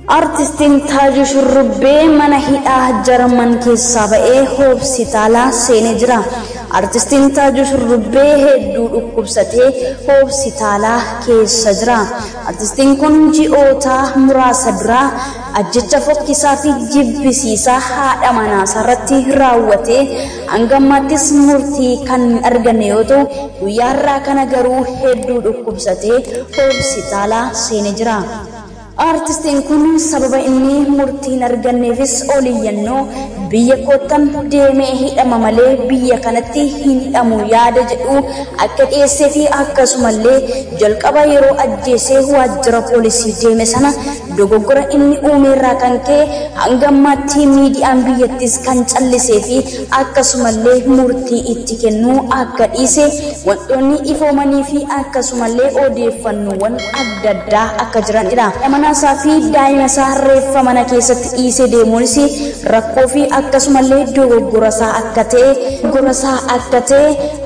Artistiin Taajuu Shurrubbee mana hidhaa Jarman keessaa ba'ee hoopsitaalaa seenee jira. Artistiin Taajuu Shurrubbee hedduu dhukkubsatee hoopsitaalaa keessa jira. Artistiin kun ji'oota muraasa duraa ajjecha fokkisaa fi jibbisiisaa haadha manaasaa irratti raawwatee hanga ammaattis murtii kan hin arganne yoo ta'u guyyaa har'aa kana garuu hedduu dhukkubsatee hoopsitaalaa seenee jira. Aartistiin kun sababa inni murtii hin arganneefis ol iyyannoo biyya koottan deemee hidhama malee biyya kanatti hin hidhamu yaada jedhu akka dhiyeessee fi akkasumallee jalqaba yeroo ajjeesee waajjira poolisii deeme sana dogoggora inni uumeerraa kan ka'e hanga ammaatti miidiyaan biyyattiis kan callisee fi akkasumallee murtii itti kennuu akka dhiise wantoonni ifoomanii fi akkasumallee odeeffannoowwan adda addaa akka jiran dha. Haadha manaa isaa fi daa'ima isaa reeffa mana keessatti dhiisee deemuunis rakkoo fi akkasumallee dogoggora isaa akka ta'e, dogoggora isaa akka ta'e,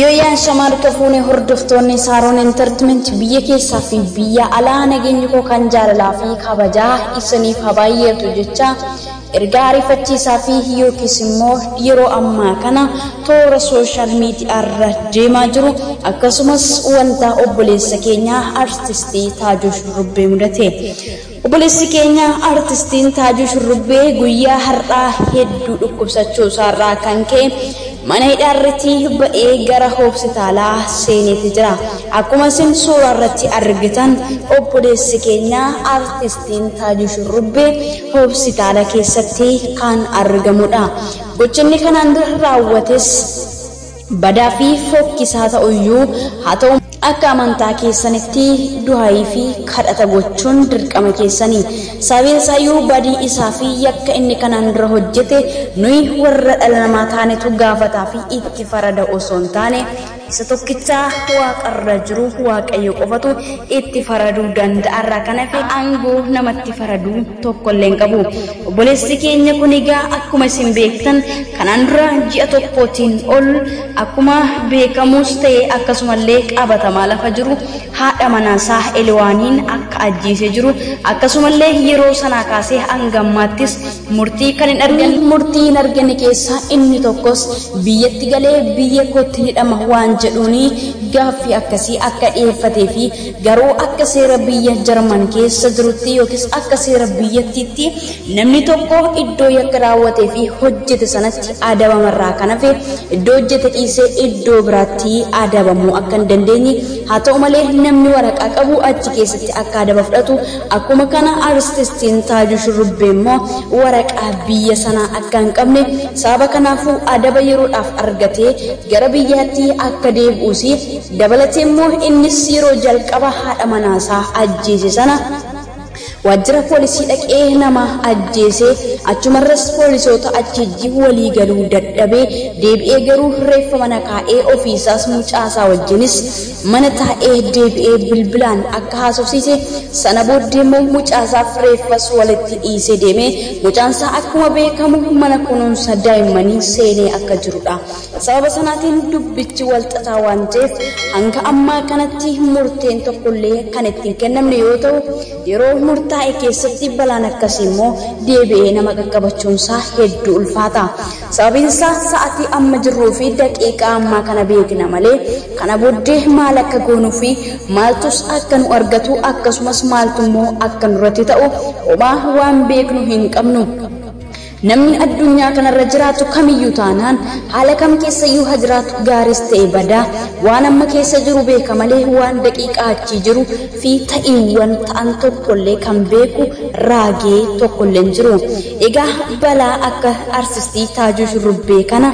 Yooyyaa Ashamaa Harka Fuune Hordoftoonni Saaroon Entertment Biyya Keessaa fi Biyya Alaa Nageenyi Koo Kan Jaalalaa fi Kabajaa Isiniif Haa Baay'atu Jechaa Ergaa Ariifachiisaa fi Yookiis Immoo Yeroo Ammaa Kana Toora Social Media Irra Deemaa Jiru Akkasumas Wanta Obboleessa Keenya Artistii Taajuu Shurrubbee Mudate Obboleessi keenya Artistiin Taajuu Shurrubbee guyyaa har'aa hedduu dhukkubsachuu isaarraa kan ka'e mana hidhaarratti ba'ee gara hospitaalaa seeneeti jira. Akkuma isin suuraa irratti argitan obboleessi keenya Artistiin Taajuu Shurrubbee hospitaala keessatti kan argamudha. Gochinni kanaan dura raawwates badaa fi fokkisaa ta'u iyyuu haa ta'u akka amantaa keessanitti duhaayii fi kadhata gochuun dirqama keessani. Sababiin isaa iyyuu badii isaa fi yakka inni kanaan dura hojjete nuyi warra dhala namaa taanetu gaafataa fi itti farada osoo hin taane isa tokkicha waaqa irra jiru Waaqayyo qofatu itti faraduu danda'a irraa kan hafe aangoo namatti faraduu tokko illee hin qabu. Obboleessi keenya kun egaa akkuma isin beektan kanaan dura ji'a tokkootiin ol akkuma beekamuus ta'e akkasumallee qabatamaa lafa jiru haadha manaasaa Eliwaaniin akka ajjeesee jiru akkasumallee yeroo sanaa kaasee hanga ammaattis murtii kan hin arganne Kanneen murtii hin arganne keessaa inni tokkos biyyatti galee biyya kootti ni dhama waan jedhuuni gaaffii akkasii akka dhiyeeffatee fi Garuu akka seera biyya Jarman keessa jirutti yookiis akka seera biyyattiitti namni tokko iddoo yakka raawwatee fi hojjete sanatti adabama irraa kan hafe iddoo hojjete dhiisee iddoo biraatti adabamuu akka hin dandeenye haa ta'u malee namni waraqaa qabu achi keessatti akka adaba fudhatu akkuma kana artistiin Taajuu Shurrubbee immoo waraqaa biyya sanaa akka hin qabne sababa kanaafuu adaba yeroodhaaf argatee gara biyyaatti akka deebi'uus Dabalateemmoo innis yeroo jalqaba haadha manaasaa ajjeese sana waajjira poolisii dhaqee nama ajjeese, achumarras poolisoota achiijji walii galuu dadhabee deebi'ee garuu reeffa mana kaa'ee ofiisaas mucaasaa wajjinis mana taa'ee deebi'ee bilbilaan akka haasofsiise, sana booddeemmoo mucaasaaf reeffas walitti dhiisee deeme, mucaansaa akkuma beekamu mana kunuunsa daa'immanii seenee akka jirudha. Sababa sanaatiin dubbichi wal xaxaa waan ta'eef hanga ammaa kanatti murteen tokkollee kan itti hin kennamne yoo ta'u, yeroo murtaa'e keessatti balaan akkasii immoo deebi'ee nama qaqqabachuun isaa hedduu ulfaata. Sababiin isaa sa'atii amma jirruu fi daqiiqaa ammaa kana beekna malee kana booddee maal akka goonuu fi maaltus akka nu argatu akkasumas maaltu immoo akka nurratti ta'u homaa waan beeknu hin qabnu. Namni addunyaa kanarra jiraatu kamiyyuu taanaan, haala kam keessayyuu ha jiraatu gaariis ta'e badaa, waan amma keessa jiru beeka malee waan daqiiqaa achii jiru fi ta'iiwwan ta'an tokkollee kan beeku raagee tokkollee hin jiru. Egaa balaa akka arsistii Taajuu Shurrubbee kana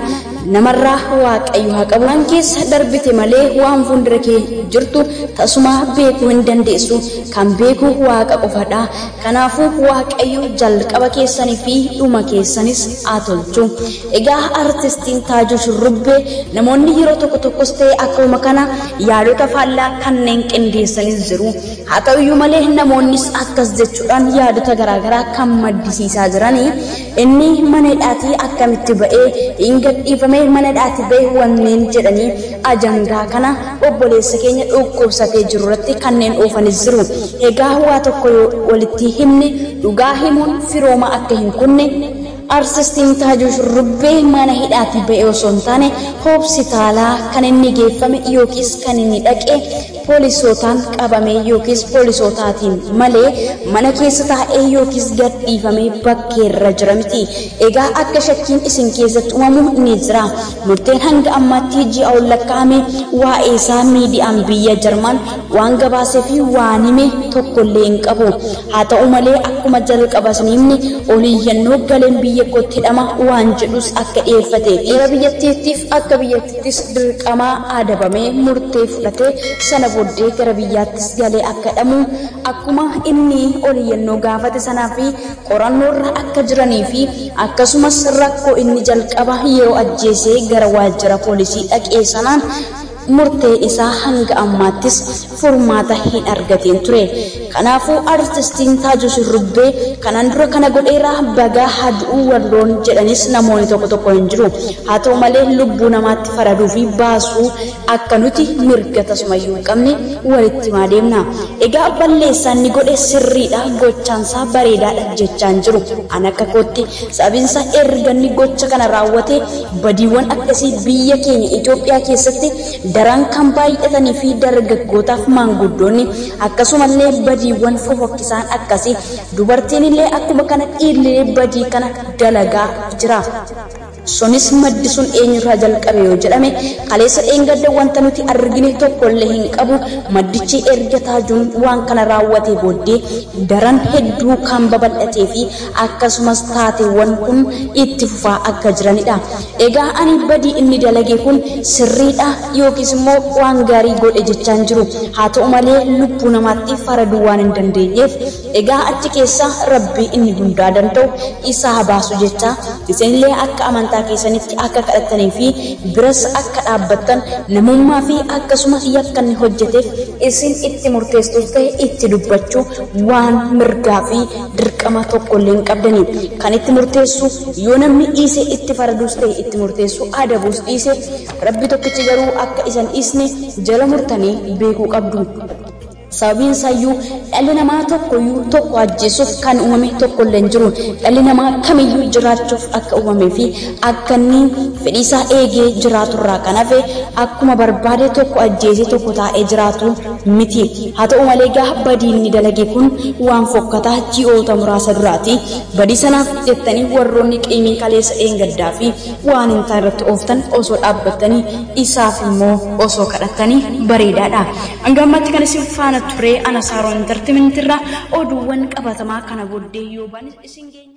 namarraa Waaqayyo ha qabu. Waan keessa darbite malee waan fuundura kee jirtu tasumaa beekuu hin dandeessu. Kan beeku Waaqa qofadha. Kanaafuu Waaqayyo jalqaba keessanii fi dhuma keessanis haa tolchu. Egaa Artistiin Taajuu Shurrubbee namoonni yeroo tokko tokkos ta'e akkuma kana yaadota faallaa kanneen qindeessanis jiru. Haa ta'uyyuu malee namoonnis akkas jechuudhaan yaadota garaagaraa kan maddisiisaa jiranii Inni mana hidhaatii akkamitti ba'ee hin gadhiifame mana hidhaati ba'e wanneen jedhanii ajandaa kana obboleessa keenya dhukkubsatee jiru irratti kanneen oofanis jiru. Egaa waa tokko yoo walitti himne dhugaa himuun firooma akka hin kunne Arsistiin Taajuu Shurrubbee mana hidhaatii ba'e osoo hin taane hopsitaalaa kan inni geeffame yookiis kan inni dhaqe poolisootaan qabamee yookiis poolisootaatiin malee mana keessa taa'ee yookiis gad dhiifamee bakkeerra jira miti. Egaa akka shakkiin isin keessatti umamu ni jira. Murteen hanga ammaatti ji'a ol lakkaa'ame waa'eesaa miidiyaan biyya Jarman waan gabaasee fi waan hime tokkollee hin qabu. Haa ta'u malee akkuma jalqaba isin himne ol iyyannoo galeen biyya kootti hidhama waan jedhus akka dhiyeeffatee fi seera biyyattiittiif akka biyyatti Ittis dirqamaa aadabamee murtee fudhatee sana booddee gara biyyaattis galee akka hidhamu akkuma inni ol iyyannoo gaafate sanaa fi qorannoorra akka jiranii fi akkasumas rakkoo inni jalqaba yeroo ajjeesee gara waajjira poolisii dhaqee sanaan murteen isaa hanga ammaattis furmaata hin argatiin ture. Kanaafuu artistiin Taajuu Shurrubbee kanaan dura kana godheera bagaa haa du'uu warroon jedhanis namooni tokko tokko hin jiru. Haa ta'u malee lubbuu namaatti faraduu fi baasuu akka nuti mirga tasumayyuu hin qabne walitti himaa deemna. Egaa balleessaa inni godhe sirriidha gochaan isaa bareedaadha jechaa hin jiru. An akka kootti sababiin isaa erga inni gocha kana raawwatee badiiwwan akkasii biyya keenya Itoophiyaa keessatti daran kan baay'atanii fi dargaggootaa fi maanguddoonni akkasumallee badiiwwan fofokkisaan akkasii dubartiin illee akkuma kana dhiirlilee badii kana dalagaa jira. Sunis maddi sun eenyurraa jalqabe yoo jedhame kaleessa dheengadda wanta nuti argine tokkollee hin qabu maddichi erga taajuun waan kana raawwatee booddee daran hedduu kan babal'atee fi akkasumas taateewwan kun itti fufaa akka jiranidha. Egaa ani badii inni dalage kun sirriidha yookiis immoo waan gaarii godhe jechaa hin jiru. Haa ta'u malee lubbuu namaatti faraduu waan hin dandeenyeef egaa achi keessaa Rabbii inni hundaa danda'u isa haa baasu jecha isinillee akka amantaa keessanitti akka kadhattanii fi biras akka dhaabbattan namummaa fi akkasuma yakka inni hojjeteef isin itti murteessuus ta'e itti dubbachuu waan mirgaa fi dirqama tokkollee hin qabdani. Kan itti murteessu yoo namni dhiise itti faraduus ta'e itti murteessu adabuus dhiise Rabbi tokkichi garuu akka isan dhiisne jala murtanii beekuu qabdu. Sababiin isaayyuu dhalli namaa tokkoyyuu tokko ajjeesuuf kan uumame tokkollee hin jiru. Dhalli namaa kamiyyuu jiraachuuf akka uumamee fi akka inni fedhii isaa eegee jiraaturraa kan hafe akkuma barbaade tokko ajjeesee tokko taa'ee jiraatu miti. Haa ta'u malee egaa badii inni dalage kun waan fokkataa ji'oota muraasa duraati. Badii sanaaf jettanii warroonni qiimiin kaleessa dheengaddaa fi waan hin taane irratti ooftan osoo dhaabbattanii isaaf immoo osoo kadhattanii bareedaa dha. Hanga ammaatti kan isin faana ture Ana Saaron Entertainment irraa oduuwwan qabatamaa kana booddee yoo baanis isin geenya.